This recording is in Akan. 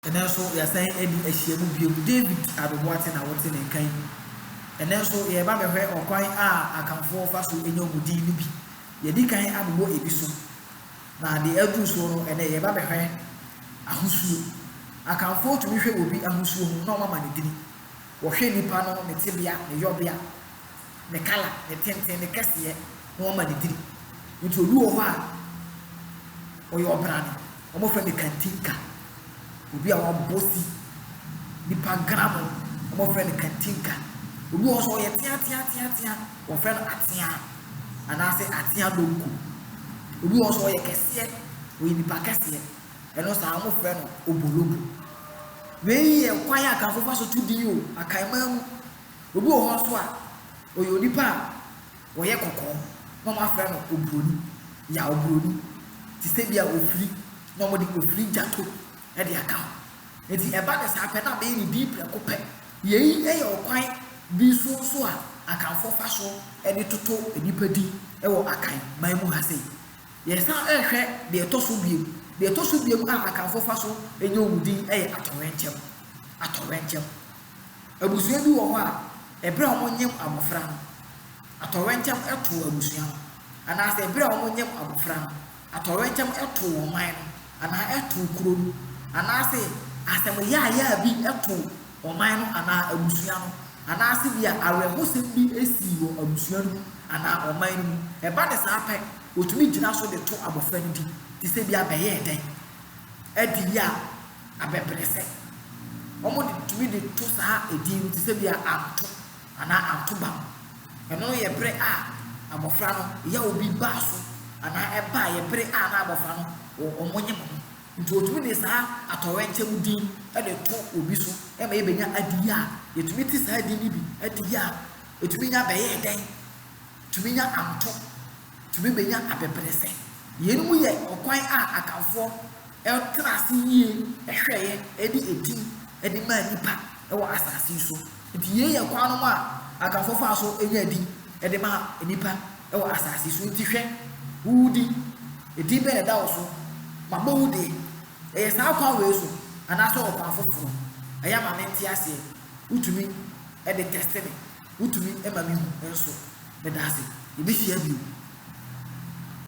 Ɛnnɛ nso yɛasan adi ahyiam bio. David Ado Boateng na wote ne nka yi. Ɛnnɛ nso yɛreba abɛhwɛ ɔkwan a Akanfoɔ fa so nya wɔn din no bi. Yɛadi kan abobɔ ebi so, na deɛ aduru soɔ no, ɛnnɛ yɛreba abɛhwɛ ahosuo. Akanfoɔ tumi hwɛ obi ahosuo ho na wɔama no din. Wɔhwɛ nipa no, ne tebea, ne yɔbea, ne kala, ne tenten, ne kɛseɛ, na wɔama no din. Nti obi wɔ hɔ a, ɔyɛ ɔbrane. Wɔfrɛ no Katinka. Obi a wabɔ si nipa gra mu no, wɔfrɛ no Katinka. Obi wɔ hɔ nso a ɔyɛ teateateatea, wɔfrɛ no Atea anaasɛ Atea Donko. Obi wɔ hɔ nso a ɔyɛ kɛseɛ, ɔyɛ nipa kɛseɛ, ɛno saa wɔfrɛ no Obolobo. Wei yɛ kwan a Akanfoɔ fa so to din o, Akanman mu. Obi wɔ hɔ nso a, ɔyɛ onipa a Ɔyɛ kɔkɔɔ na ɔmo afrɛ no obroni, ya obroni, te sɛ bi a ofiri na ɔmo de ofiri gyato de aka ho. Enti ɛba no saa pɛ na abɛyɛ ne din prɛko pɛ. Yei yɛ ɔkwan bi so nso a Akanfoɔ fa so de toto nnipa din wɔ Akan man mu ha sei. Yɛsan hwɛ deɛ ɛtɔ so biom, deɛ ɛtɔ so biom a Akanfoɔ fa so yɛ wɔn din yɛ Atɔwrɛnkyɛm, Atɔwrɛnkyɛm, Abusua bi wɔ hɔ a, bere a wɔnyem abofra no, atɔwrɛnkyɛm to abusua no, anaasɛ bere a wɔnyem abofra no, atɔwrɛnkyɛm to ɔman no, anaa to kuro no, anaasɛ asɛm yaayaa bi to ɔman no anaa abusua no, anaasɛ ebia awerɛhosɛm bi sii wɔ abusua no mu anaa ɔman no mu. Ɛba no saa pɛ, wɔtumi gyina so de to abofra no din, te sɛ ebia bɛyɛɛ dɛn? Adi a abɛbrɛsɛ. Wɔde tumi de to saa edin no te sɛ bia Anto anaa Antobam. Ɛno no yɛ bere a abɔfra no yaw bi baa so anaa ɛbaeɛ bere a na abɔfra no wɔ wɔn nyem ho. Nti wɔtumi de saa atɔwɛnkyɛm din de to obi so ma yɛbɛnya adeyɛ a yɛtumi te saa din no bi, adeyɛ a ɛtumi nya bɛyɛɛ dɛn, tumi nya Anto. tumi bɛnya abɛbrɛsɛ. Yeinom yɛ ɔkwan a Akanfoɔ tra ase yie hwɛeɛ de edin de maa nnipa wɔ asase yi so. Nti yei yɛ kwan nom a Akanfoɔ faa so nyaa edin de maa nnipa wɔ asase yi so. Nti hwɛ, wo wo din, edin bɛn na ɛda wo so? Mabɔ wo deɛ. Ɛyɛ saa kwan wei so anaasɛ ɔkwan foforɔ? Ɛyɛ a ma mente aseɛ. Wotumi de tɛste me. Wotumi ma mihu nso. Meda ase. Yɛbɛhyia bio.